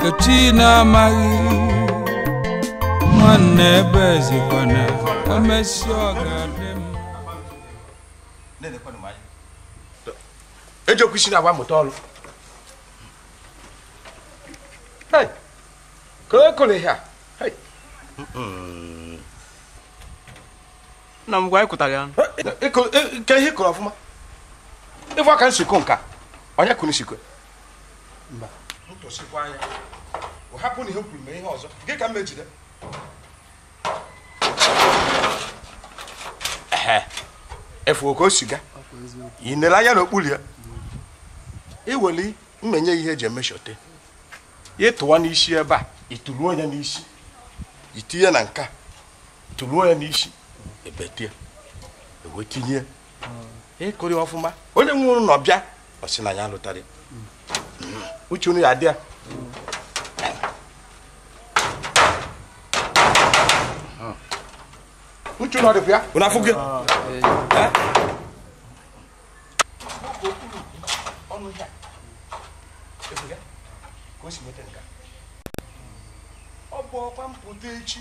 ka chi na-amaghị nwanne ebe ezekwana e mesịa ọ ga-adị mma ejekwa isi na-agba mụta ọrụ Hey, ka o kụrụ ihe a Hey. nna m gwa anyị kụtara ya Ịkụ- ị- ka ihe kụrụ ọfụma ịfụ ka m si kụ nka onye kụrụ nsikụ ịfụ oke o si ga ị nere anya n'okpuru ya iweli mmenye ihe eji emechọte ịtụwa n'isi ebe a ịtụruo ya n'isi itinye na nka tụruo ya n'isi ebetie iwetinye ịkụrị ọfụma onye nwụrụ na ọbịa ọ sị na ya alụtarị hmm. uche unu ya adị ya hmm. uche unu ọ dịkwa ya unu afụghị ọnụ ya ebuga ka o si nweta nka ọ bụ ọkwa m pụta echi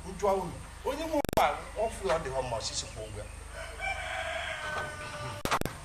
m jụọ unu onye nwe ụgbọala ọfụ ya ọ dịghọ mma ọ sị sị kwa ụgwọ ya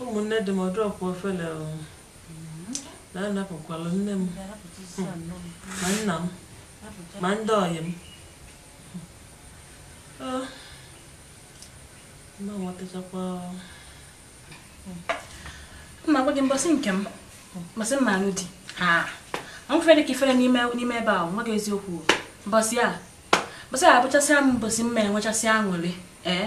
Ụmụnne di m ọ dụọkwa ofele o. na-anapụkwalụ nne m ma nna m ma ndị ọyị m Ah, ma nwetachakwa m ma gwa gị mbọsị nke m mbọsị m ma-alụ di ha nwefere dị ka ifere n'ime n'ime ebe ahụ m gwa gị eziokwu o. mbọsị a mbọsị a abụchasịa m mbọsị m ma-enwechasịa aṅụrị ee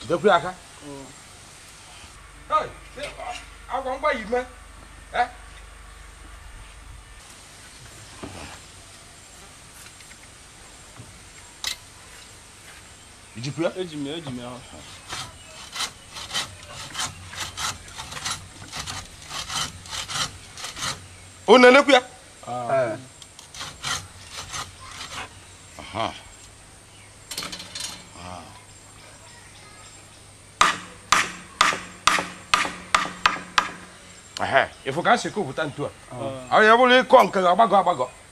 jidekwu ya aka ngwa ngwa yi mee i jikwa ya eji m ya eji m ya unu na-enekwu ya Ah. Aha. Ah. Ehe, ịfụ ka e si kụpụta ntu a ọ ya bụrụ ị kụọ nke gị agbagọ agbagọ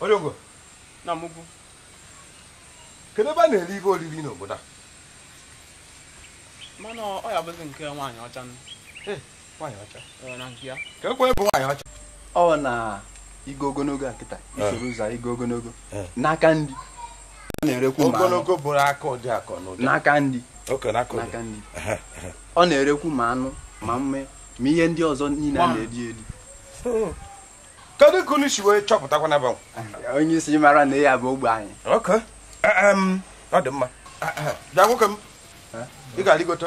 onye ogo nna m ukwu kedu ebe a na-eri ihe oriri n'obodo a mana ọ ya-abụzi nke nwaanyị ọcha nụ nwaanyị ọcha Ee, na nke ya. ka ekwe bụ nwaanyị ọcha ọ na igo ogologo a kịta isoro ụzọ igo ogologo Eh. n'aka ndị ọ na-erekwu ma anụ. ogologo bụrụ aka ụdị akọ na ụdị n'aka ndị oke na akọ n'aka ndị ọ na-erekwu ma anụ ma mme ma ihe ndị ọzọ niile a na-eri eri kedu ka unu si wee chọpụtakwa na banwe onye isi mara na ya bụ ogbe anyị oke ọ dị mma bịa nwoke m ị ga-arịgote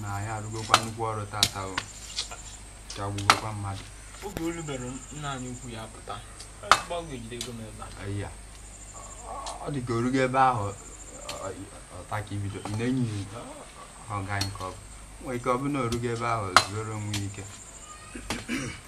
na anyị arụgokwa nnukwu ọrụ tata ike agwụgokwa mmadụ oge olu bere nna anyị ukwu ya pụta gbagwejide ego m ebe a Aya. ọ dị ka o rugo ebe ahụ ọ- ọ- ọta ka ibido ị na-enyi ọga nke ọ bụ nwee ike ọ bụ na o rugo ebe ahụ zuoro onwe ya ike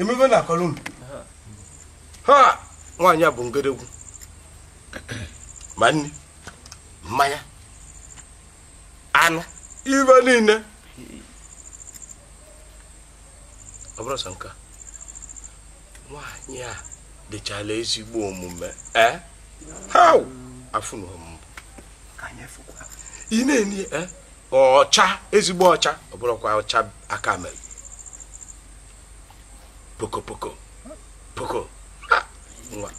emebe na akọrọ unu ha nwaanyị a bụ ngedegwu ma nri mmanya anụ ive niile ọ bụrụ sọ nke nwaanyị a dịchala ezigbo omume ee eh? ha afụnụ m ị na-enye eh? ọcha ezigbo ọcha ọ bụrụkwa ọcha aka mere poko poko poko nwa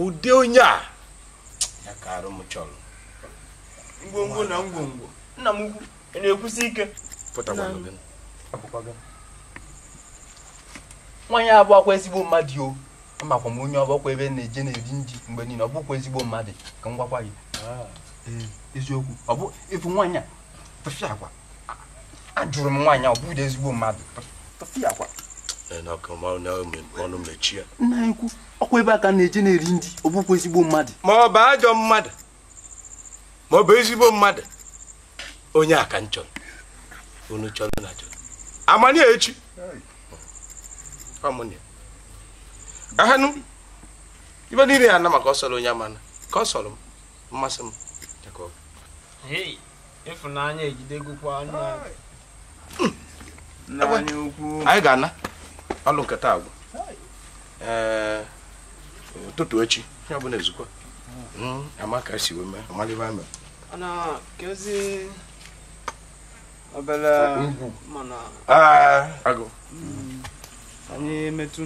ụdị onye a ya ka arụ m chọrọ ngwongwo na ngwongwo nna m ukwu na-ekwusi ike pụtakwanụ gị nwaanyị a abụakwa ezigbo mmadụ o amakwa m onye ọ bụ ọkwa ebe na-eje na-eri nri mgbe niile ọ bụkwa ezigbo mmadụ ka m gwakwa gị ah. ee eziokwu ọ bụ ịfụ nwaanyị a tụfịakwa ajụrụ m nwaanyị a ọ bụghị ezigbo mmadụ tụfịakwa ọnụ mechie nna anyị ukwu ọkwa ebe a ka na-eje na-eri nri ọ bụkwa ezigbo mmadụ ma ọ bụ ajọ mmadụ ma ọ bụ ezigbo mmadụ onye a ka m chọrọ unu chọrọ na chọrọ amanye echi ọmụnye ahanụ ive niile ya na maka ọ sọrọ onye amana ka ọ sọrọ m mmasị m Hey. ịfụnanya ejidegokwa nna anyị ukwu anyị ga-ana alụ nkata agwụ ee ụtụtụ echi ya bụ na ezukwa hmm, Amaka si wee mee amalịba mere ana kezi obere ugwu mana agụ hmm, anyị emetụ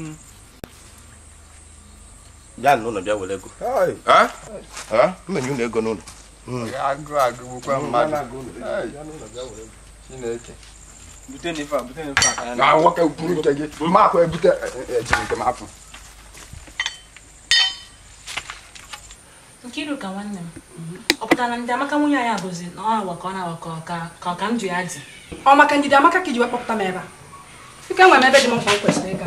bịa n'ụlọ bịa were ego m menye ụlọ ego n'ụlọ agụụ agụgbukwa mmadụ chineke na nwoke kwuru nke gị ma akwa ebute ejiri nke m afọ Nkiruka nwanne m ọ pụtara na Ndidiamaka nwunye anyị abụzi na ọ awa ka ọ na-awa ka ọ ka- ka ọ ka m ji ya dị ọ maka Ndidiamaka ka i ji wee kpọpụta m ebe a ike nwere m ebe dị m mkpa m kwesịrị ịga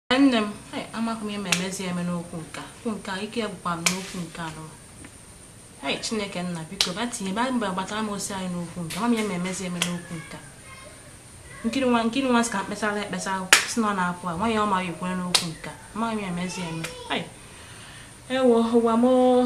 nne m hei, amaghị m ihe m ga-emezi eme n'okwu nke a. okwu nke a ike agwụkwa m n'okwu nke a nụ hei chineke nna biko bịa tinye bịa gbatara m ọsọ anyị n'okwu nke a. ama m ihe m ga-emezi eme n'okwu nke a. Nkiru nwa Nkiru nwa sị ka m kpesara ya ekpesa sị na ọ na-apụ a nwaanyị ọ ma ya ekwere n'okwu nke a. amaghị m ihe m ga-emezi eme hei ewo ụwa m oo.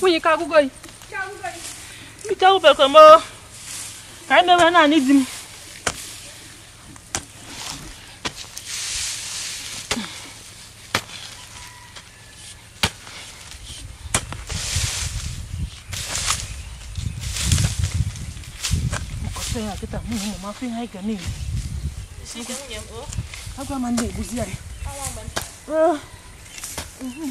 nwunye ike agwụgo gị ike agwụgokwa m ka anyị mewe naanị di m M kọta ya kịta mụ na ụmụ m afụ ihe anyị ga na-eri. Agụụ ama na-egbuzi anyị. Ah. Mhm.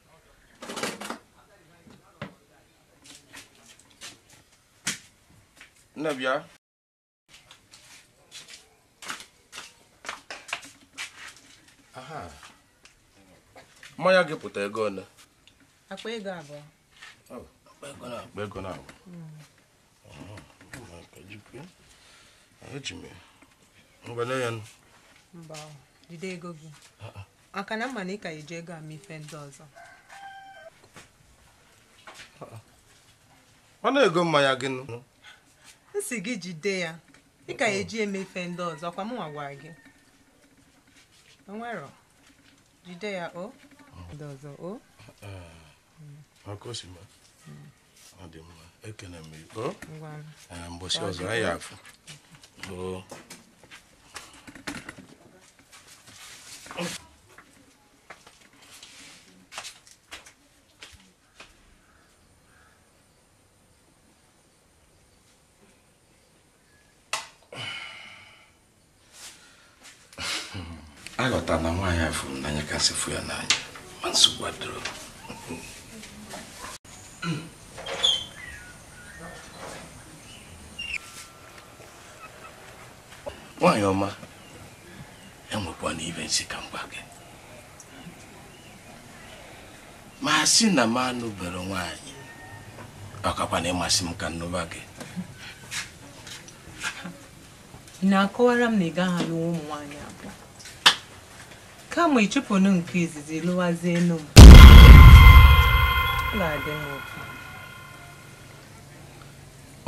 nne bịa mmanya gị pụta ego ole akpa ego abụọ akpa ego na abụọ mba jide ego gị maka na m ma na ị ka eji ego eme ife ndị ọzọ ọ na-ego mmanya gị nụ m si gị jide ya ị ka eji eme ife ndị ọzọ ọkwa mụ nwa gwara gị o nwero jide ya o ndị ọzọ o ọkọsima ọ dị mma ekene m ị o mbọsị ọzọ anyị afụ aghọtara na nwaanyị a fụrụ n'anya kasị fụ ya n'anya ma nsogbu adịrọ nwaanyị ọma enwekwa m ife m sị ka m gwa gị ma sị na m anụberọ nwaanyị ọ kakwa m asị ka m nụba gị Ị na-akọwara m na ị gaghị alụwa ụmụ nwaanyị abụọ kama ị chụpụnụ nke izizi lụwazienụ m ga-adị m ụtọ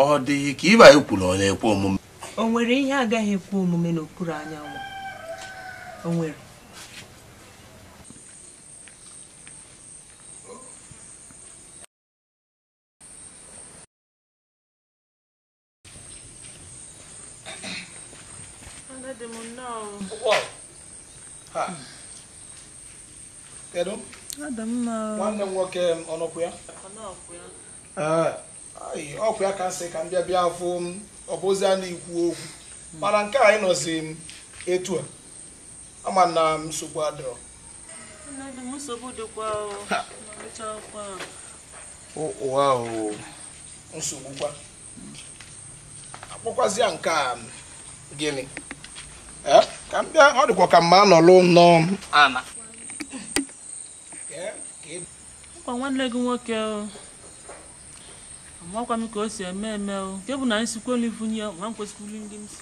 ọ dịghị ka ihe anyị kwuru ọ na-ekwe omume o nwere ihe agaghị ekwe omume n'okpuru anyanwụ o nwere Kedu? Nwanne m nwoke ọ nọkwa ya? Ọ kwa ya ka m sị ka m bịa bịa fụ ọ bụ ozi a na-ekwu okwu mana nke a ị nọzi m etu a ama na nsogbu adịrọ o nsogbu kwa akpọkwazịa nke a gịnị eh? ka m bịa ọ dịkwa ka mma anọlụ n'ụnọ ana ọ kwa nwanne gị nwoke amakwa m ka o si eme eme o nke bụ na anyị sikwa olivunye ma m kwesịkwuru ndị m si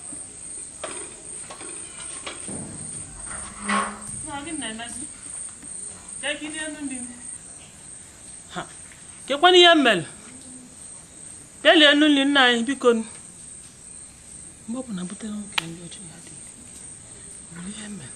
kekwanụ ihe mere kelie enu nri nna anyị biko mgbe ọ bụla butere nwoke ndị ọchị ya dị ihe mere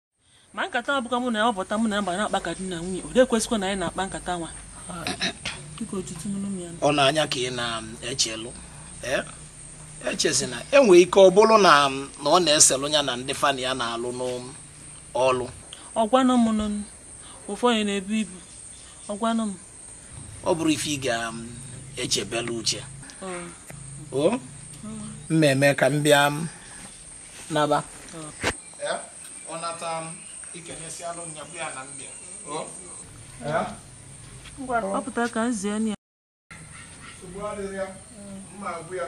ma nkata a bụkwa mụ na ya ọ pụta mụ na ya bịa na-akpa ka di na nwunye ọ na-ekwesịkwa na anyị na-akpa nkata nwa ọ na-anya ka ị na-echelụ echezi na enwe ike ọ bụlụ na ọ na-eselụ ya na ndị fa na ya na-alụ n'ọlụ ọ gwanụ m ụfọdụ na-ebu ibu ọ gwanụ m ọ bụrụ ife ị ga-echebelụ uche mmemme ka m bịa naba ọ nata m ikenyesi alụ nya bụ ya na mbịa ọ pụtara ka m zie ya nsogbu adịghị ya mma agwụ ya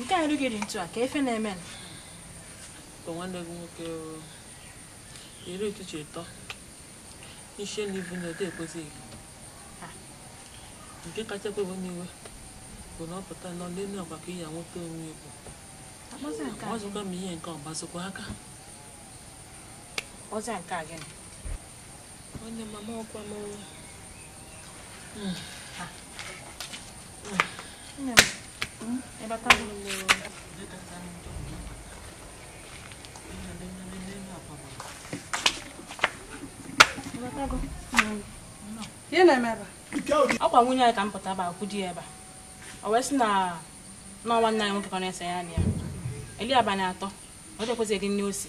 nke a rugiri ntu a ka ife na-eme ka nwanne gị nwoke iri ụtụtụ ịtọ isi na ibu na ode ekwesịghị nke kacha ewe m iwe bụ na ọ pụta nọ n'elu akwa ka ya nweta onwe ya bụ ọ zụkwa m ihe nke ọ gbazikwa aka ọzọ nke a gịnị Nwanne mama ọkwa m ọrụ. Hmm. Nne m, hmm? ịbata m n'ụlọ. Ihe na-eme ebe a? Ọkwa nwunye anyị ka m pụta ebe a kwụ di ya ebe a. O wee sị na nwa nwanne anyị nwoke ka na-ese ya na ya. Eli abalị atọ, ọ dịkwazị eli nni o si.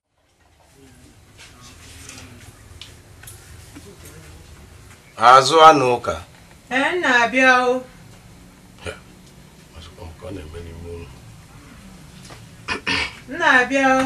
azụ anụ ụka ee na-abịa o na-abịa o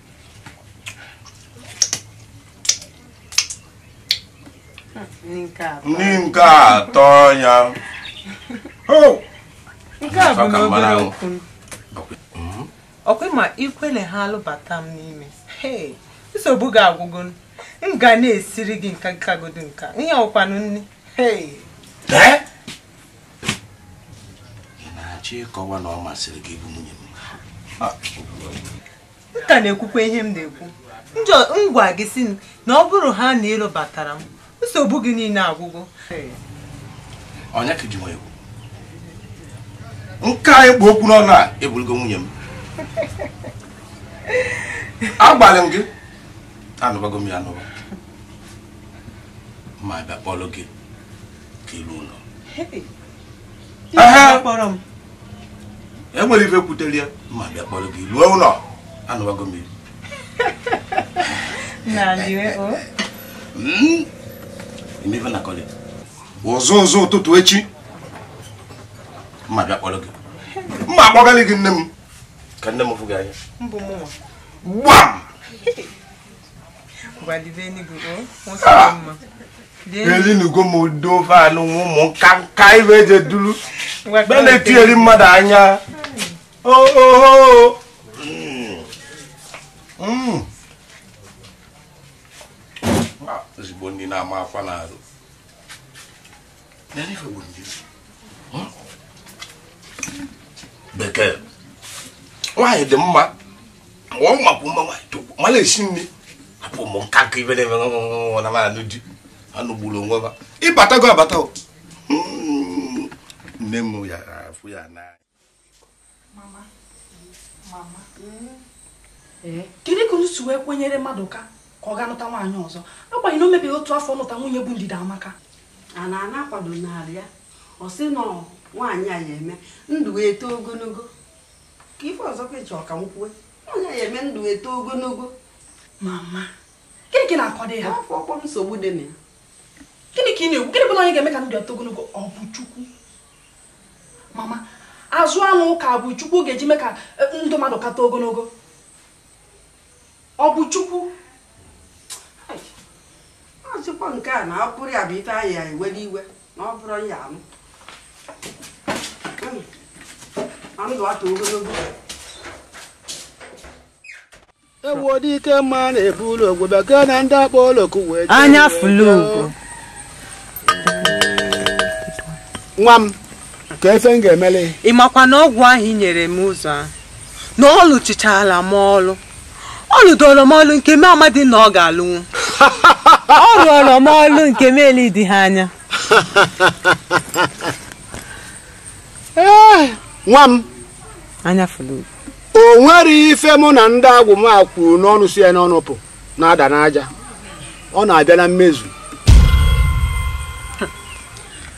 ndị nke atọ ya nke a bụ n'obere okwu hmm? ọkwa ma i kwele ha alụbata m n'ime nsogbu gị agwụgo m ga na-esiri gị nka kagodo nka ihe ọkwanụ nne na-achọ ịkọwa na ọ masịrị gị ịbụ nwunye m m ka na-ekwukwa ihe m na-ekwu njọ m gwa gị sị m na ọ bụrụ ha na ị lụbatara m nsogbu gị niile agwụgo onye ka i ji nwa egwu nke a ị kpụ okwu n'ọnụ a ị bụrụgo nwunye m agbalị m gị anụbago m ya anụba ma bịa kpọrọ gị ka i luo ụlọ Hey, Ehe. kpọrọ m e nwere ife kwutere ya ma bịa kpọrọ gị luo ụnọ anụwago m ife na-akọlị ụzọ ụzọ ụtụtụ echi m ma-abịa kpọrọ gị m ma-akpọgalị gị nne m ka nne m fụ gị anya gbam elinugo m ụdị ofe anụ nwa ụmụ nka nka ibe eje duru be na-etiyeri mmadụ anya ooo ozugbo ndị na-ama akwa n'arụ bekee nwaanyị dị mma ọ makwa mma nwaanyị tokwu mana esi nri apụ ụmụ nka ka ibe na-eme nwa na mara di anụ gburu onwe ha ị batago abata o. Mm, nne m ya-afụ ya n'anya mama mama eh? kedu ka unu si wee kwenyere mmadụ ka ka ọ ga-anụta nwaanyị ọzọ agbanyeghị na o mebeghị otu afọ nụta nwunye bụ Ndidiamaka a na-ana akwado narị ya ọ sị na nwaanyị a ya eme ndụ wee too ogonogo kee ife ọzọ ka ị chọ ka m kwue nwaanyị a ya eme ndụ wee too ogonogo mama gịnị ka ị na-akọdụ ya afọ ọkpọ nsogbu dị na ya gịnị ka ị na-ekwu gịnị bụ na onye ga-eme ka ndụ ya too ogonogo ọ bụ chukwu mama Azụanụka bụ chukwu ọ ga-eji mee ka eh, ndụ mmadụ kata ogonogo ọ bụ chukwu Ai, ọzụkwa nke a na ọ bụrụ ya bụ ife anyị ya ewere iwe na ọ bụrụ ya anụ Unu, na ndụ ato ogonogo Anyafụlụgo nwa m kee ife m ga-emeli ị makwa na ọgwụ ahụ i nyere m ụzọ ahụ na ọ lụchichaala m ọlụ ọ lụdoro m ọlụ nke m amadị na ọ ga-alụnwu ọ rụọrọ m ọlụ nke m eledị ha anya ee nwa m Anyafụlụgo o nwere ife mụ na ndị agwụ m a kwuru n'ọnụ si ya n'ọnụ pụ na-ada n'aja ọ na-abịa na mmezu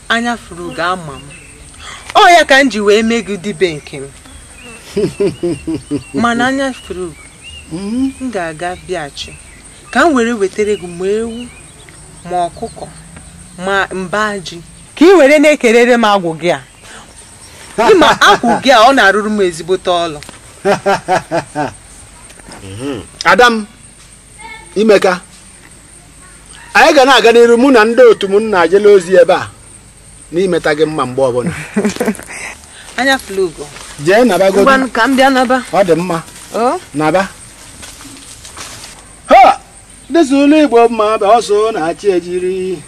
Anyafụrụgo ama m ọ ya ka m ji wee mee gị dibịa nke m mana Anyafụrụgo m ga-aga bịachi ka m were wetara gị ma ewu ma ọkụkọ ma mba ji ka ị were na-ekelere m agwụ gị a ị ma agwụ gị a ọ na-arụrụ m ezigbote ọlụ ada m i meka anyị ga na-aga n'iru mụ na ndị otu m na-ajela ozi ebe a n'imeta gị mma mgbe ọbụla anya fụlụ ugo jee naba godi ngwanụ ka m bịa naba ọ dị mma o naba ọ dịzịlụ igbo mma bụ ọsọ na-achị ejiri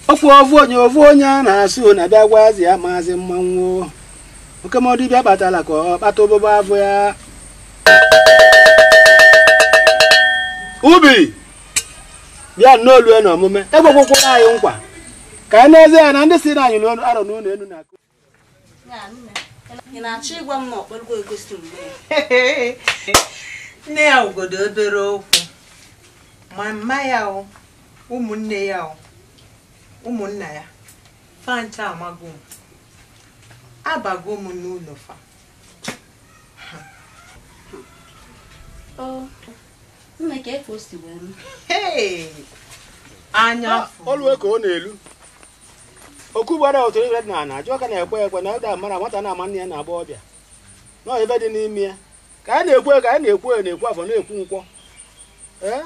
ofu ofu onye ofu onye a na-asị unu abịa gwazi ya maazị mmanwụ oke mmụọ dibịa kpatara ka ọ kpata ebube afọ ya ubi bịa nnọọ olue na omume ekwekwara anyị nkwa ka anyị n'ezie ya na ndị si na anyị n'ọnụ arọ n'ụlọ elu na-akụ ị na-achọ ịgwa m na ọkpọrọgo egosi mgbe nne ya obodo obere okwu ma mma ya o ụmụnne ya o ụmụnna ya fa ncha amago m abago m n'ụlọ fa Nne ka efe o si wee m. anya olue ka ọ na-elu okwu gbara otu ibe dị n'ala ajụ ọka na-ekwe ekwe na ụda mara nwata na-ama nne ya na-agba ọbịa na ife dị n'ime ya ka anyị na-ekwu eke na-ekwu oye na-ekwu afọ na-ekwu nkwọ ee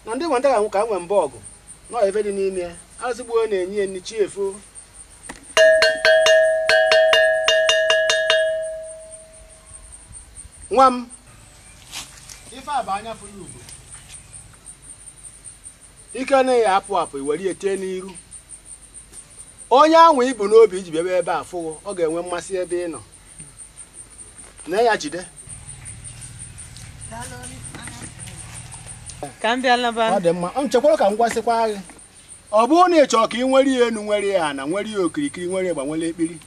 na ndị nwata ga-anwụ ka anyị nwee mba ọgụ na ife dị n'ime ya azụgbuo na-enye ya nni chi efo nwa m ife a bụ anya fụlụ ugo ike anaghị apụ apụ i were ya tee n'iru onye ahụ i bu n'obi i ji bịaba ebe a fụ gị ọ ga-enwe mmasị ebe ị nọ na ya jide ka m bịa laba ọ dị mma o chekwara ka m gwasịkwa gị ọ bụrụ na ị chọọ ka ị nwere ya enu nwere ya ana nwere ya okirikiri nwere igba nwere ekpiri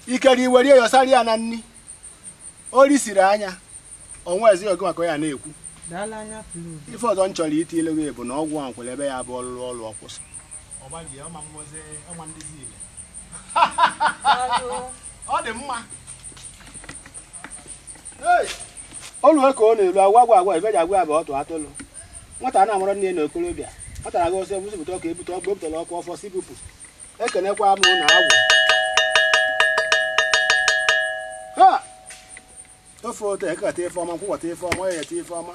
ikere i were ya yọsara ya na nri o ri siri anya ọnwa ezi oge maka ya na-ekwu ife ọzọ m chọrọ iti ilu gị bụ na ọgwụ ahụ nwere ebe ya bụ ọ lụlụ ọlụ ọ kwụsị ọ dị mma olue ka ọ na-elu agwa agwa agwa ibeji agwa bụ ọtụ atụlụ nwata na-amụrụ nne na okorobịa nwata na-aga ọsọ ebusipụta ọka ebute ọkụ ebutela ọkụ ọfọ si bupụ ekenekwa m na agwụ ha ofe otu eke keta ife ọma nkwọ kwọta ife ọma oye yeta ife ọma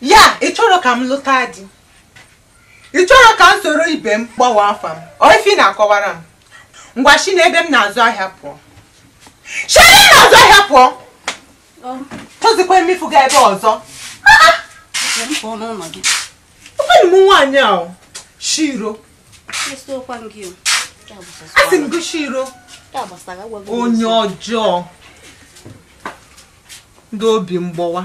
ya ị chọrọ ka m lụta di ị chọrọ ka m soro ibe m gbanwe afa m ọ ife ị na-akọwara m ngwa si n'ebe m na-azụ ahịa pụọ si ebe m na-azụ ahịa pụọ achọzikwa m ịfụ gị ebe a ọzọ ụfọdụ ụmụ nwaanyị a o, shiro asị m gị shiro onye ọjọọ ndị obi mgbọwa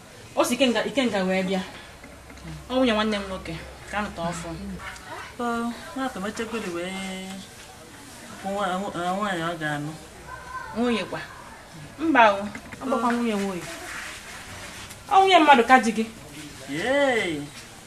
o si ikenga ikenga wee bịa ọ nwunye nwanne m nwoke ka a nụta ọfụ nwa emechegodi wee nwaanyị ọ ga-anụ nwunye kwa mba o ọ bụkwa nwunye nwunye ọ nwunye mmadụ ka di gị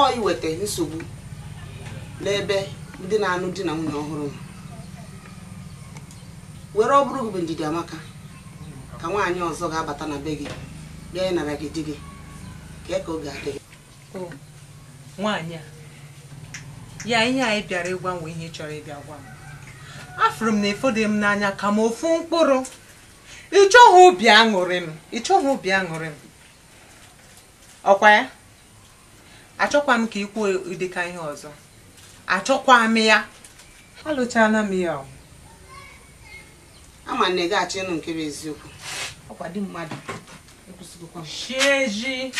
ọ iweta nsogbu n'ebe ndị na-anụ di na nwunye ọhụrụ nọ were ọ bụrụ gị bụ ndidi amaka ka nwaanyị ọzọ ga-abata na be gị bịa ịnara gị di gị ka ka oge adịghị nwaanyị a ya ihe a ị bịara ịgwa m ihe ị chọrọ ịbịa gwa m afụrụ m na ị fụrọ m n'anya ka m ofu mkpụrụ ị chọghị obi aṅụrị m ị chọghị obi aṅụrị m ọkwa ya achọkwa m ka ị kwuo ụdịka ihe ọzọ achọkwa m ya alụchala m ya o. ama m na ị ga-achọ ịnụ nke bụ eziokwu ọkwa di mmadụ ekwesịgokwa m chieji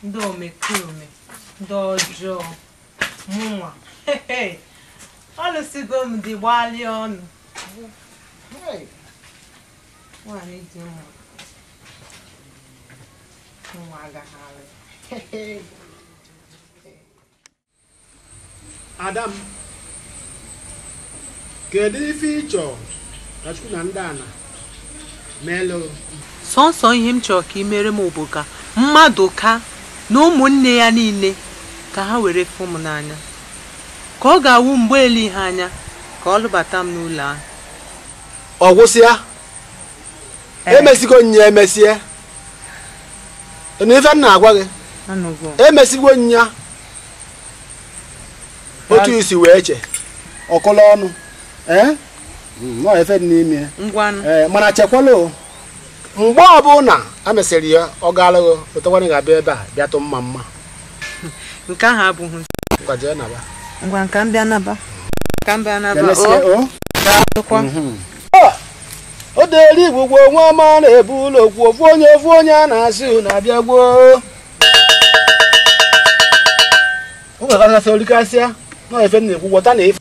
ndị omekome ndị ọjọọ mụnwa alụsigo m di gbalịa ọnụ Hey. nwaanyị dị mma ada m kedu ife ị chọrọ ka chukwu na ndị ana meelụ sọnsọ ihe m chọrọ ka ị mere m bụ ka madụka na ụmụnne ya niile ka ha were fụ m n'anya ka ọ ga-awụ mgbe eleghị anya ka ọ lụbata m n'ụlọ ahụ ọ gwụsịa emesigo nya emesie na ife m na-agwa gị emesigo nya otu i si wee che ọkụla ọnụ eh? hmm, ife dị n'ime eh, mana chekwala mgbe ọbụla e mesịrị ya ọ gaalụghị otekwana ga-abịa ebe a bịa tụ mma mma nke ahụ abụghị ngwa ka m bịa naba ka m bịa naba o deri igbo gwo nwa ọma na-ebu ụlọ kwu ofu onye ofu onye a na-asị unu abịa gboo o nwere kasị orikasịa na ife m na-ekwu ghọta na ife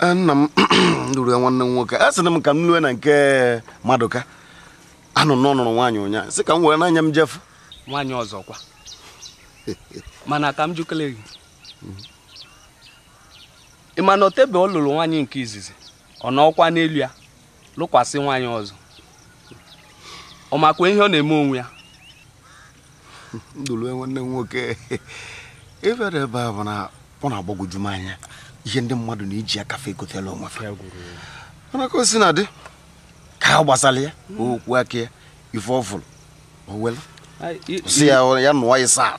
Eh, nna m lụrụ ya nwanne m nwoke a sị na m ka m lue na nke madụka anụ m na ọ nụrụ nwaanyị ụnyaahụ sị ka m were n'anya m je fụ nwaanyị ọzọ kwa mana ka m jụkele gị ị ma na o tebe ọ lụrụ nwaanyị nke izizi ọ nụọkwa n'elu ya lụkwasị nwaanyị ọzọ ọ makwa ihe ọ na-eme onwe ya ndụlue nwanne m nwoke ịbịara ebe a bụ na ọ na-agbagwoju m anya ihe ndị mmadụ na-eji aka fa ekotala onwe fa mana ka o sina dị ka a gbasara ya okwu aka ya ife ọ fụrụ o welu Ai, i- sị ya ya nụọ ya saa